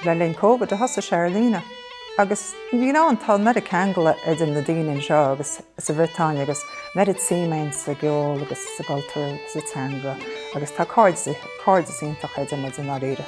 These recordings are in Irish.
Le linn Covid a thosaigh sé ar líne agus you know an tá an oiread ceangal idir na daoine anseo agus sa Bhriotáin agus an oiread suim againn sa gceol agus sa gcultúr agus sa teanga agus tá cairdeas iontach idir muid i ndáiríre.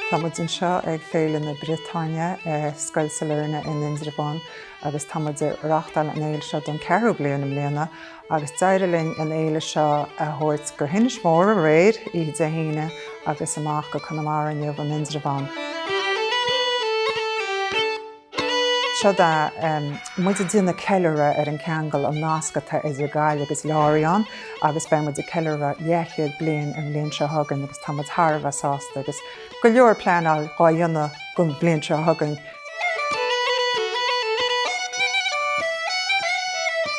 Tá muid anseo ag Féile na Briotáine i Scoil Sailearna in Indreabhán agus tá muid ag reáchtáil an fhéile seo don ceathrú bliain i mbliana agus d'éirigh linn an fhéile seo a thabhairt go hInis Mór aréir, oíche Dé hAoine, agus amach go Conamara inniu, in Indreabhán. So tá muid ag déanamh ceiliúradh ar an cheangal, an nasc atá idir Gaillimh agus Lorient agus beidh muid ag ceiliúradh leathchéad bliain an bhliain seo chugainn agus tá muid thar a bheith sásta agus go leor pleanáil dhá dhéanamh don bhliain seo chugainn.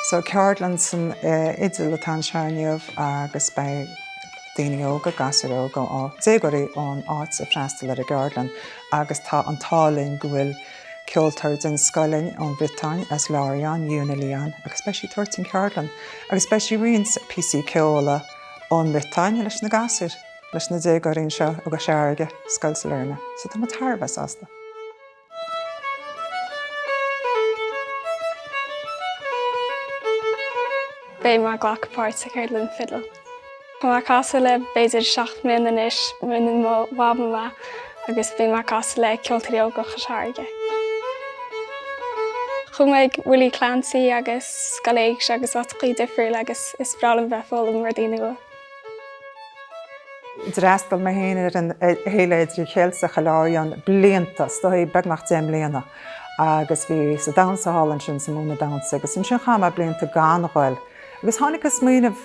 So ceardlann san fhidil atá anseo inniu agus beidh daoine óga, gasúir óga, déagóirí ón áit ag freastal ar an gceardlann agus tá an t-ádh linn go bhfuil ceoltóir den scoth linn ón Bhriotáin, as Lorient, Yuna Léon, agus beidh sí ag tabhairt an cheardlann agus beidh sí ag roinnt píosaí ceoil ón mBriotáin leis na gasúir. leis na déagóirí anseo i gCois Fharraige, Scoil Sailearna, so tá muid thar a bheith sásta. Beidh mé ag glacadh páirt sa Cheardlann Fidil. Tá mé ag casadh le b'fhéidir seacht mbliana anois, mhúin mo mhama mé, agus bíonn mé ag casadh le Ceoltóirí Óga Chois Fharraige. Chuaigh mé ag Willie Clancy agus Scoil Éigse agus áiteachaí difriúla agus is breá liom bheith ag foghlaim rudaí nua. D'fhreastail mé féin ar an Fhéile Idir-Cheilteach i Lorient blianta, is dóigh beagnach deich mbliana, agus bhíos ag damhsa thall ansin, is ag múineadh damhsa, agus ansin chaith mé blianta gan ghoil. Agus tháinig an smaoineamh,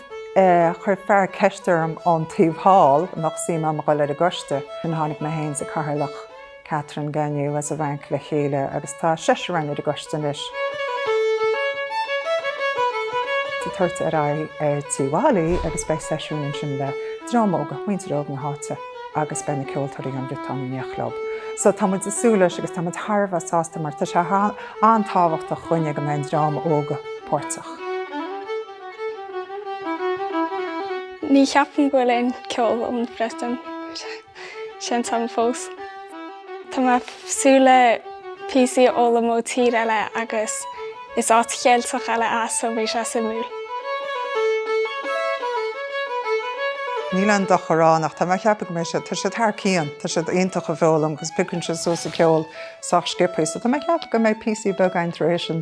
chuir fear ceist orm ón taobh thall an mbeadh suim agam a ghoil ar an gcoiste, tháinig mé féin is an Cathaoirleach, Catherine Gagneux as an bhFrainc le chéile agus tá seisear againn ar an gcoiste anois. Tabhairt ar aghaidh ar Tigh Mhailí agus beidh seisiún ansin le dream óg, muintir óg na háite agus beidh na ceoltóirí ón Bhriotáin in éineacht leob. So tá muid ag súil leis agus tá muid thar a bheith sásta mar tá sé an-tábhachtach dhúinne go mbeidh an dream óg páirteach. Ní cheapaim go bhfuil aon ceol ón Bhriotáin. seinnte agam fós. Tá mé ag súil le píosaí a fhoghlaim ó tír eile agus is áit Cheilteach eile é so beidh sé suimiúil. Níl aon dochar ann ach tá mé ag ceapadh go mbeidh sé, tá siad thar cionn, tá siad iontach ag foghlaim agus piocann siad suas an ceol sách sciopthaí so tá mé ag ceapadh go mbeidh píosaí beaga againn tar éis an,